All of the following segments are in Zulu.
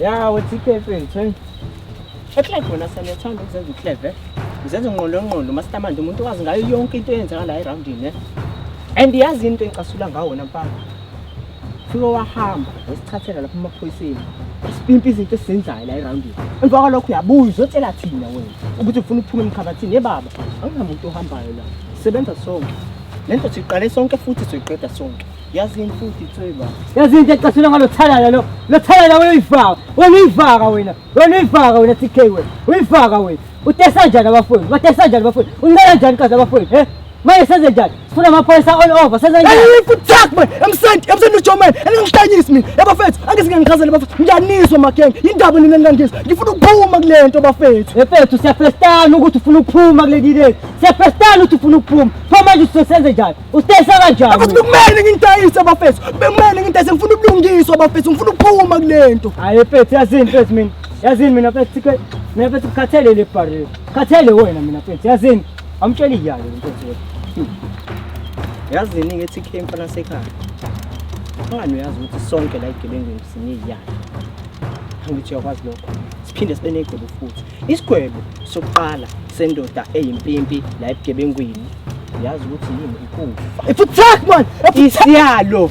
ya wethi ikhefu ngithweni eklebe wona saniyathanda ukuzenza uklebe uzenza unqolonqolo mastamande umuntu wazi ngayo yonke into eyenzakala erawundini ne and yazi into engicasula ngawo wona mfana Fika wahamba wasithathela lapha emaphoyiseni. Sipimpa izinto esizenzayo la eroundini. Emva kwalokho uyabuya uzotshela thina wena ukuthi ufuna ukuphuma emkhabathini. Ye baba, anginamuntu ohambayo la. Sebenza sonke. Le nto siqale sonke futhi soyiqeda sonke. Yazi yini futhi itswe baba. Yazi into ecasula ngalo thalala lo. Lo thalala wena uyifaka. Wena uyifaka wena. Wena uyifaka wena TK wena. Uyifaka wena. Utesa njani abafowethu? Batesa njani abafowethu? Uncela njani kazi abafowethu? He? Manje senze njani? Sifuna amaphoyisa all over. Senze njani? Hey, futhak man. Emsenti, emsenti uJoman. Angingihlanyisi mina. Yaba fethu, angizike ngichazele bafethu. Ngiyanizwa mageng. Indaba nina ningangizwa. Ngifuna ukuphuma kulento bafethu. Efethu siyafestana ukuthi ufuna ukuphuma kulekile. Siyafestana ukuthi ufuna ukuphuma. Pho manje usesenze njani? Usitayisa kanjani? Abathi kumele ngintayise bafethu. Bekumele ngintayise ngifuna ubulungiswa bafethu. Ngifuna ukuphuma kulento. Hayi efethu yazini fethu mina. Yazini mina fethu sikwe. Mina fethu ukhathele le barrel. Khathele wena mina fethu. Yazini. Amtshela iyalo inkosi yethu. Yazi iningi ethi khe mfana sekhaya. Ungani uyazi ukuthi sonke la igebengwini sineyiyalo. Angithi uyakwazi lokho. Siphinde sibe negwebo futhi. Isigwebo sokuqala sendoda eyimpimpi la ebugebengwini. Yazi ukuthi yini ikufa. Ifuthak man. Isiyalo.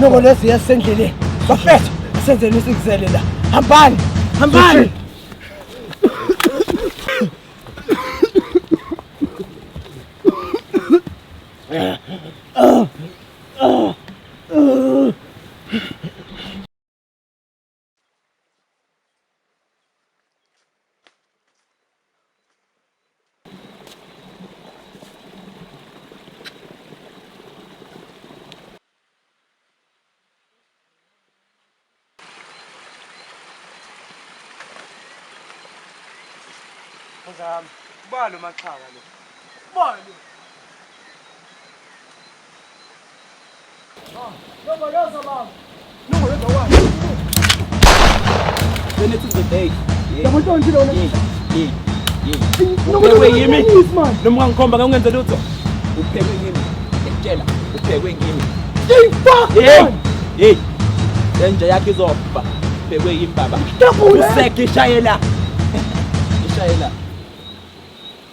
Noko lezi yasendleleni. Bafethu, senzeni isikuzele la. Hambani. Hambani. zami ubalo maxhaka lo ubalo noma ungangikhomba ngangenze lutho uphekwe kimi ngiyakutshela uphekwe kimi hey lenja yakhe izofa uphekwe yimi baba useke ishayela ishayela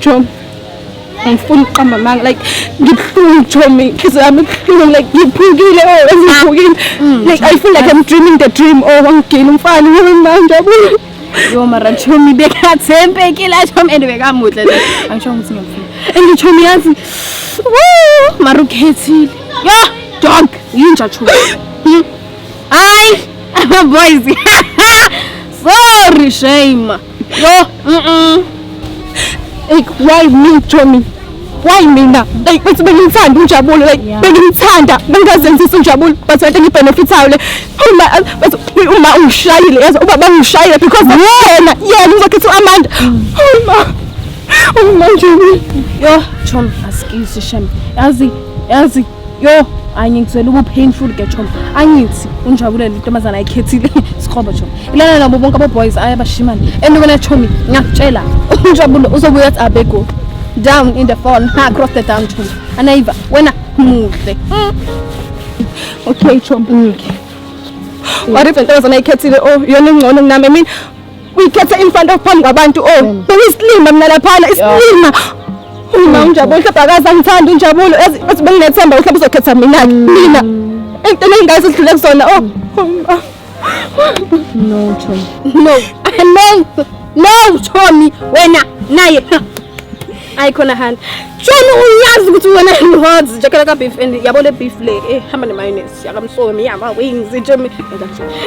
Jom, angifuni ukuqamba amanga like ngibuhlungu Jom, inhliziyo yami ibuhlungu like ngiphukile or oh, eziphukile mm. like I feel like I'm dreaming the dream or oh, wangigila umfana yini manje abuye yo mara Jom bekathembekile Jom and bekamuhle le angisho ukuthi ngiyamfuna and Jom yazi woo mara ukhethile yo Jom yinja Jom hmm. Hayi ama boys. Sorry shame. Yo, mhm. Hey, why me Tommy? Why mina? Hey, bathi bengimthanda uNjabulo, like bengimthanda, bengazenzisa uNjabulo, but kanti ngibenefithayo le. Uma bathi uma ungishayile, yazi uba bangishayile because yena, yena uzokhetha uAmanda. Uma. Uma nje. Yo, Tommy, askisi shame. Yazi, yazi yo anye ngizwela ubu painful ke choma angithi unjabulele intombazana ayikhethile sikhobo choma ilana nabo bonke abo boys aya bashimana and wena chomi ngiyakutshela unjabulo uzobuya athi abego down in the phone ha cross the down choma anayiva wena muhle mm. okay choma okay mm. what if intombazana ayikhethile oh yona ingcono kunami i mean uyikhethe imfanto phambi kwabantu o oh, bengisilima mina laphana isilima mina unjabulo hlebha akaze angithanda unjabulo ethi benginethemba uhlebha uzokhetha mina mina into enengazi sidlule kusona o oh, oh, no Tommy no no no Tommy wena naye ayi khona handa Tommy uyazi ukuthi wena ngihozi njakela ka beef and yabo le beef le ehamba ne mayonnaise yakamsomi yaba wings Tommy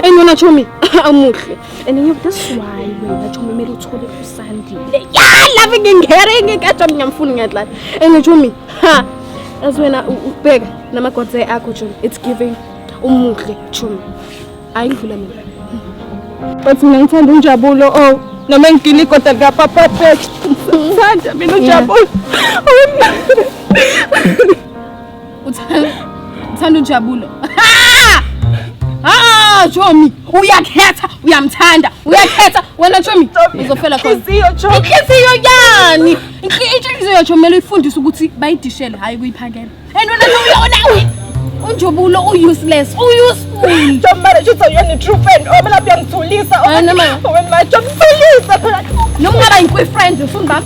and wena Tommy amuhle And you, this is why wena Chomi kumele uthole usandile. Yeah, love ngingere ngikajwa ngiyamfuna ngiyadlala. And Chomi, ha. As wena ubheka namagodze akho Chomi, it's giving umuhle Chomi. Ayidlula mina. But mina ngithanda unjabulo oh noma ngigila igoda lika papa Pet. Ngithanda mina unjabulo. Uthanda ujabulo. Ah, Chomi, uyakhetha, uyamthanda, uyakhetha. Wena Chomi, uzofela khona. Inhliziyo Chomi. Inhliziyo yani. Inhliziyo Chomi mele ifundise ukuthi bayidishele hayi kuyiphakela. And wena uyona unjobulo u-useless u-useful job marriage uthi uyena i-true friend omela oh, uyangithulisa omela oh, oh, uyangithulisa phela noma ungaba yinkwi-friend ufuni bami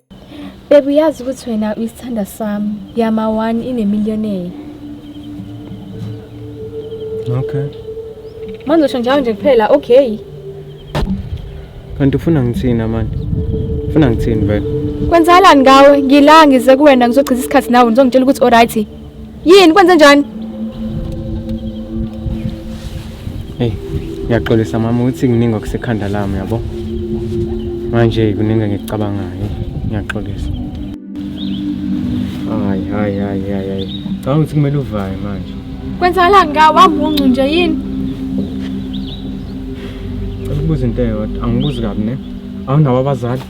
Babe uyazi ukuthi wena uyisithanda sami. Yama one inemillionaire. Okay. Manje usho njalo nje kuphela okay. Kanti ufuna ngithina manje? Ufuna ngithini vele? Kwenzakalani ngawe? Ngila ngize kuwena ngizochitha isikhathi nawe ngizongitshela ukuthi alright. Yini kwenze njani? Hey, ngiyaxolisa mama ukuthi kuningi okusekhanda lami yabo. Manje kuningi engikucabangayo. Ngiyaxolisa. Hayi, hayi, hayi, hayi, hayi. Cha ukuthi kumele uvaye manje. Kwenzakalani ka wambuncu nje yini? Cela ukubuza into eyodwa, angibuzi kabi ne. Awunawo abazali?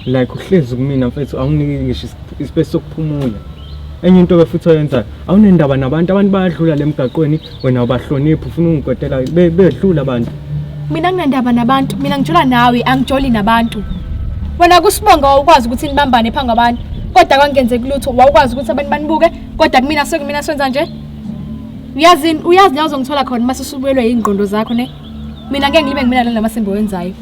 like uhlezi kumina mfethu awunginike ngisho ispace sokuphumula enye into ke futhi oyenzayo awunendaba nabantu abantu bayadlula le mgaqweni wena ubahloniphi ufuna ungikotela be- bedlula abantu mina nginendaba nabantu mina ngijola nawe angijoli nabantu wena kusibonga wawukwazi ukuthi nibambane phambi kwabantu kodwa kwangenzeki lutho wawukwazi ukuthi abantu banibuke kodwa kumina sekumina senza nje uyazini uyazi la uzongithola khona uma sesubuyelwe yingqondo zakho ne mina ngeke ngibe ngimina lana masembe wenzayo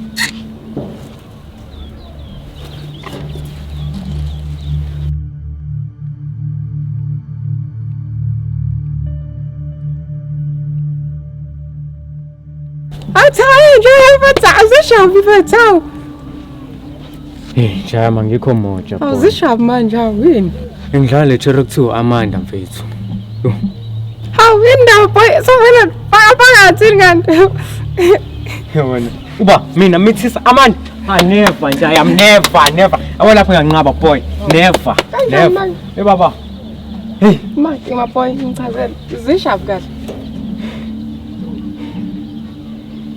Athayi nje uyibatha uzishawa ibatha. Hey, jama ngikho moja. Awuzishawa manje awini. Ngidlale chero kuthiwa Amanda mfethu. Hawu indawo boy so wena phakathi ngani. Yabona. uba mina mithisa amani I never nje I am never never yabo lapho nganqaba boy never never hey baba hey ma ima boy ngichazela zishavu kahle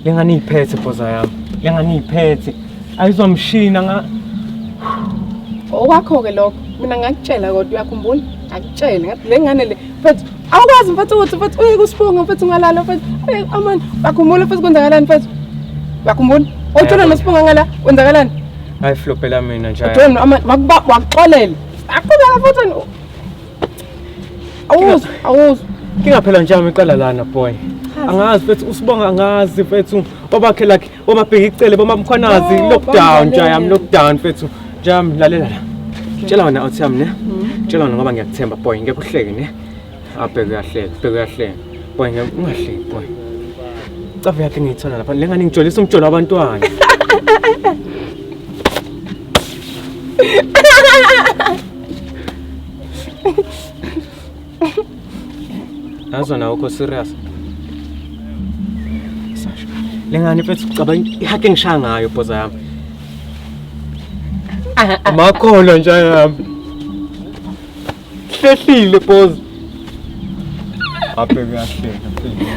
lengani iphethe boza yami lengani iphethe ayizomshina nga okwakho ke lokho mina ngakutshela kodwa uyakhumbula akutshele ngathi le ngane le mfethu awukwazi mfethu ukuthi mfethu uye kusibonga mfethu ungalala mfethu amani bakhumbula mfethu kwenzakalani mfethu bakhumbula othola nosibonga ngala kwenzakalani hayi flopela mina nje othola amani wakuxolela aqubeka mfethu awuzwa awuzwa ngingaphela njani iqala lana boy angazi mfethu usibonga angazi mfethu obakhela Boma bheki icele boma mkhwanazi Oh, lockdown bamlalele. jayam lockdown mfethu jam lalela la tshela wena uthi yami ne Mm-hmm. tshela wena ngoba ngiyakuthemba boy ngeke uhleke ne abheke uyahleka bheke uyahleka boy ngeke ungahleki boy cave yakhe ngiyithola lapha le ngane ngijolisa umjolo wabantwana Nazo nawe ukho serious. Sasha. Lengane mfethu ucabanga ihake ngishaya ngayo bhoza yami. Amakholo nje yami. Hlehlile bhoza. Abheke yahleka.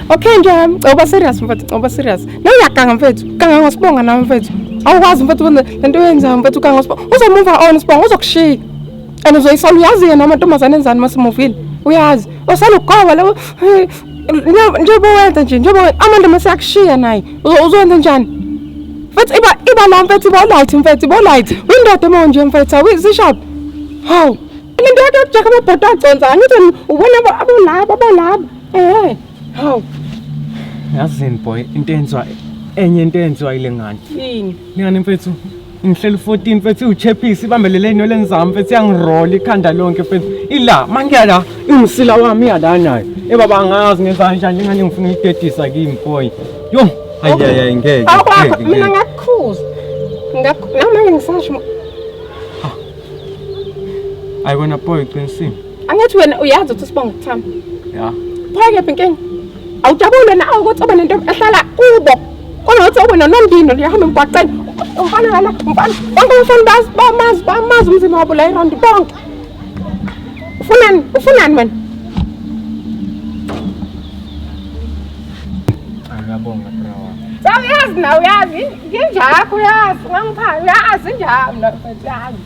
Okay nje yami, uba serious mfethu, uba serious. Nawe uyaganga mfethu, ganga ngosibonga nawe mfethu. Awukwazi mfethu lento yenzayo mfethu ganga ngosibonga. Uzomumva on sibonga uzokushiya. and uzoyisala uyazi yena amantombazane enzani uma simuvile uyazi osala ugoba labo njengoba wenza nje njengoba amandla uma seyakushiya naye uzowenza njani mfethu iba iba la mfethu iba light mfethu iba light windoda uma unje mfethu awizishaphi hawu lento yakhe yokujaka amabhodo aconsa angithi ubona abolaba abolaba ehe hawu yazini boy into enziwa enye into enziwa ile ngane yini ngane mfethu ngihleli 14 mfethu iwuchephisi ibambelele enweleni zami mfethu iyangirola ikhanda lonke mfethu ila mangiya la ingusila wami iya la nayo ebaba angazi ngenza kanjani njengani ngifuna uyidedisa kimi boy yo ayiyayayi ngeke mina ngakukhuza namanje ngisasho ayi wena boy qinisile Angathi wena uyazi ukuthi sibonga ukuthamba. Ya. Phake inkinga. Awujabule na ukuthi ube nento ehlala kubo. Kunothi ube nonondino liyahamba emgwaqeni. Umfana lana, umfana. Bonke umfana bazi bamazi bamazi umzimba wabo la iround bonke. Ufunani? Ufunani wena? Angabonga bro. Sawu yazi na uyazi. Nginjakho yazi. Ngangipha uyazi njalo. Uyazi.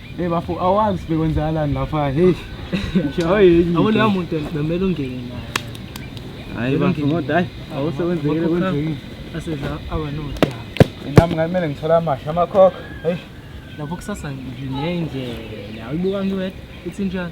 Hey bafo awazi bekwenzakalani lapha hey. Yabo leyo muntu bemele ungene naye. Hayi bafo ngoda hayi awusebenzekile kunjini. Asedla abanodaba. Nami ngamele ngithola amasha amakhokho. Hey. Lapho kusasa nginendlela. Uyibuka ngiwedwa. It's in John.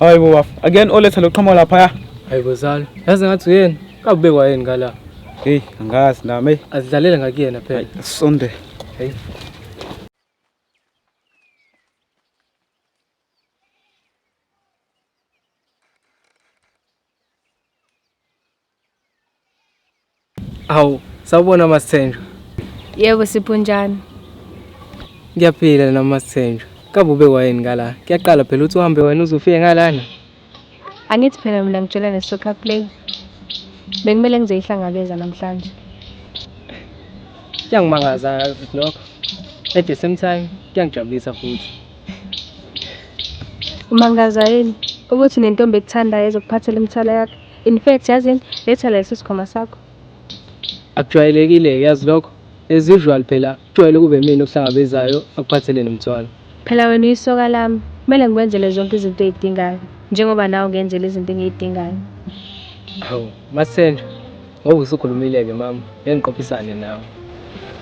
Hayi bo bafo. Again oletha loqhamo lapha ya. Hayi bo zalo. Yazi ngathi uyena. Kabekwa yini ngala? Hey, angazi nami. Azidlalele ngakuyena phela. Sonde. Hey. Awu, sawubona Masithenjwa. Yebo Sipho njani? Ngiyaphila na Masithenjwa. Kabe ube wayini ngala? Kuyaqala phela uthi uhambe wena uzofike ngalana. Angithi phela mina ngitshela ne-soccer play. Bekumele ngizoyihlangabeza namhlanje. Kuyangimangaza futhi lokho. At the same time kuyangijabulisa futhi. Umangaza yini ukuthi nentombi ekuthandayo ezokuphathela imithwalo yakho? In fact yazini letha leso sikhwama sakho. Akujwayelekile-ke yazi lokho. As usual phela kujwayele ukube imina okuhlangabezayo akuphathele nomthwalo. Phela wena uyisoka lami, kumele ngikwenzele zonke izinto oyidingayo njengoba nawe ungenzela izinto engiyidingayo. Hawu, Masenjwa ngoba usukhulumile-ke mama, ngeke ngiqophisane nawe.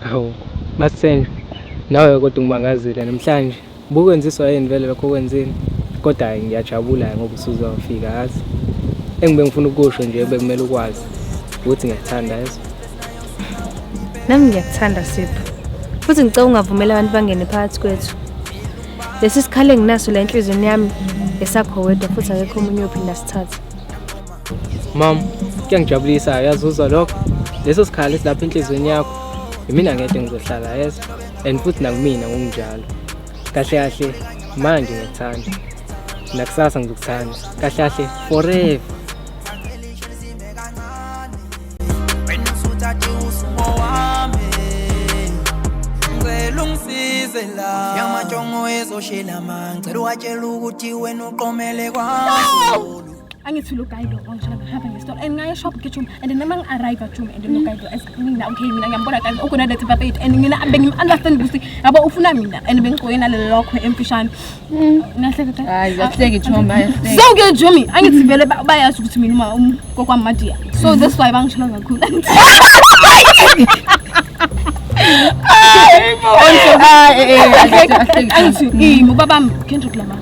Hawu, Masenjwa, nawe kodwa ungibangazile namhlanje. Bukwenziswa yini vele lokho okwenzile? Kodwa hhayi ngiyajabula ngoba usuzofika yazi. Engibe ngifuna ukusho nje bekumele ukwazi ukuthi ngiyakuthanda yazi. Nami ngiyakuthanda Sipho. Futhi ngicela ungavumeli abantu bangene phakathi kwethu. Lesi sikhali enginaso la enhliziyweni yami esakho wedwa futhi akekho omunye ophinda sithathe. Mom, kuyangijabulisa yazi uzwa lokho. Leso sikhala esilapha enhlizweni yakho. Yimina ngeke ngizohlala yes and futhi nakumina ngokunjalo. Kahle kahle manje ngikuthanda. Nakusasa ngizokuthanda. Kahle kahle forever. Yamajongo ezoshela manje, ngicela uwatshela ukuthi wena uqomele kwami. angithi lo guide lo nje ngihamba ngesitolo and ngaye shop gijuma and noma ngi arrive ajuma and lo guide lo as mina okay mina ngiyambona kanti ukona that baba yethu and mina bengi understand ukuthi yabo ufuna mina and bengiqoke nalelo lokho emfishane nahleka hayi yahleke joma yahleke so ke jumi angithi vele bayazi ukuthi mina uma um, kokwami madia so mm-hmm. that's why bangishela kakhulu Hayi bo. Hayi eh. Angithi ngibaba Kendrick Lamar.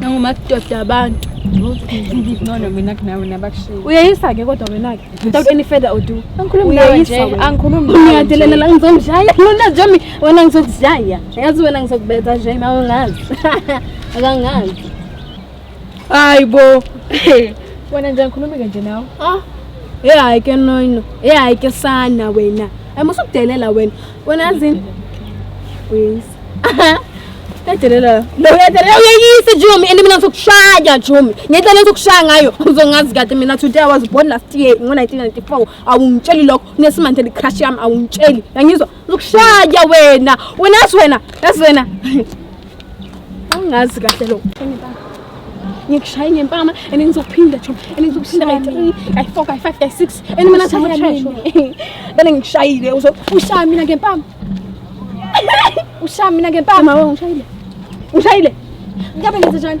nangumadoda abantu uyayisa-ke kodwa wena-ke without any further odu angikhulumngiyadelela la ngizomshaya lona njami wena ngizokuzishaya yazi wena ngizokubetha nje ma ungazi akangazi hayi bo wena nje angikhulumi-ke nje nawe e hayi ke noino e hayi ke sana wena amusukudelela wena Wena azini? Uyeyisa. Edelela. Lo uyadelela uyeyisa Jumi and mina ngizokushaya Jumi. Ngento lento ukushaya ngayo uzongazi kade mina today I was born last year ngo 1994. Awungitsheli lokho nesimanje le crush yami awungitsheli. Yangizwa uzokushaya wena. Wena as wena, as wena. Angazi kahle lo. Ngikushaye ngempama and ngizokuphinda chom and ngizokuphinda kayi 3 kayi 4 kayi 5 kayi 6 and mina nathi ngishayisho. Bele ngikushayile uzo ushaya mina ngempama. Ushaya mina ngempama wewe ngishayile. Ngishayile. Ngabe ngenze njani?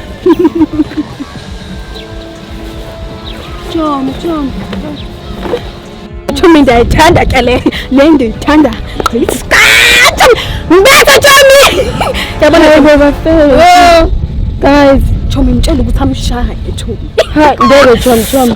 Chomi, chomi. Chomi ndiyayithanda ke le le ndiyithanda gqisikati mbethe chomi yabona bebafele guys chomi mtshela ukuthi amshaye chomi ngeke chomi chomi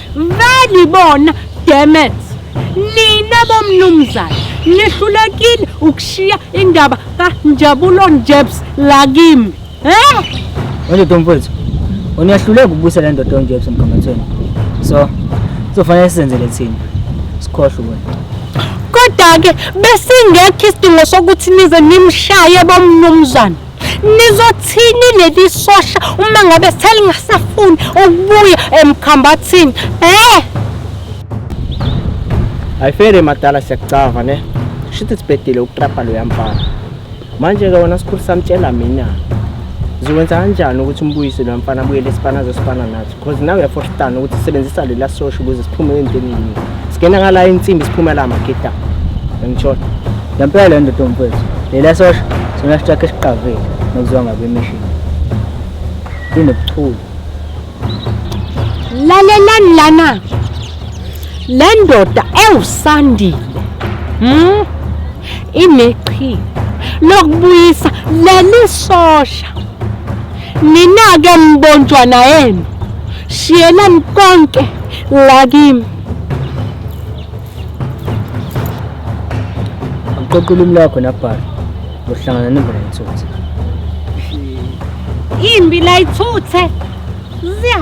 Vele ibona demet. Nina bomnumzane nihlulekile ukushiya indaba kaNjabulo Njebs la kimi. Eh? Manje Tomfowethu, uyahluleka ukubusa le ndoda onjebs emgangathweni. So, kuzofanele senzele thina. Sikhohle wena. Kodwa ke besingekho isidingo sokuthi nize nimshaye bomnumzane. nizothini leli sosha uma ngabe selingasafuni ukubuya emkhambathini eh ayifele madala siyakucava ne shithi sibhedile ukutrapha loya mfana manje-ke wona sikhulu samtshela mina ziwenza kanjani ukuthi umbuyise lo mfana abuyele esipana zesipana nathi Because nawe uyafohlana ukuthi sebenzisa lela sosho ukuze siphume endleleni. Singena ngala insimbi siphuma la magida. Ngitshona. Ngempela le ndoda mfethu. Lela sosho sona sithathe isiqavile nokuziwa ngabe mission. Inobuchule. Lalelani lana. Le ndoda ewusandile. Hmm? Ineqhi lokubuyisa leli sosha. Nina-ke mbontshwana yenu shiyelani konke la kimi. Qoqa ulimi lwakho nabhala. Uhlangana nemvula yethutha. Imbi la ithuthe. Ziya.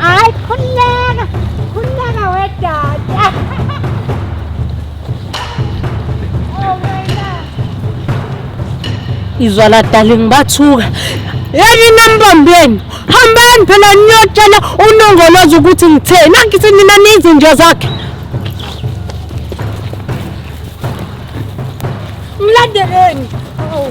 Hayi khululeka, khululeka wedada. Oh my God. izwa la darling bathuka yeni nambambeni hambani phela niyotshela unongoloza ukuthi ngitheni nangithi nina niyizinja zakhe Mlandeleni. Oh.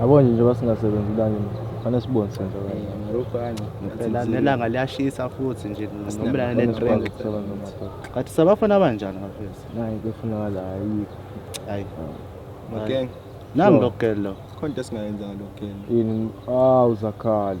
Yabo nje njengoba singasebenzi ilanga nje kufanele sibone senza kanje. Marokho kanje Phela nelanga liyashisa futhi nje nomlana Kufanele sikwazi netrend ukusebenza madoda. kanti sabafana abanjani bafethu Nayi kufunakala ayikho. hayi Makenga, nami lokugelo khona into esingayenzanga lokugenda. Yini? Awu zakhala.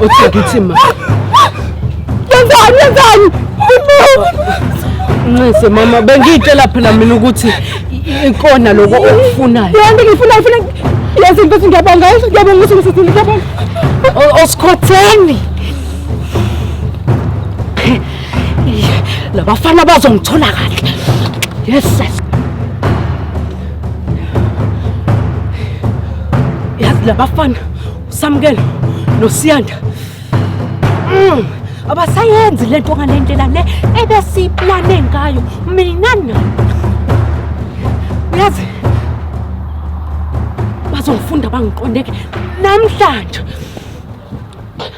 Uthi ngithi ma. Yenzani yenzani? Nxese mama bengitshela phela mina ukuthi ikona lokho okufunayo. Yonke ngifuna ngifuna yazi mfethu ngiyabonga ngiyabonga ukuthi ngisizile ngiyabonga. Osikhotheni. labafana bazongithola kahle yes sir yazi labafana usamukelo nosiyanda mm. abasayenzi lento ngalendlela le ebesiyiplane ngayo mina nina uyazi bazongifunda bangiqondeke namhlanje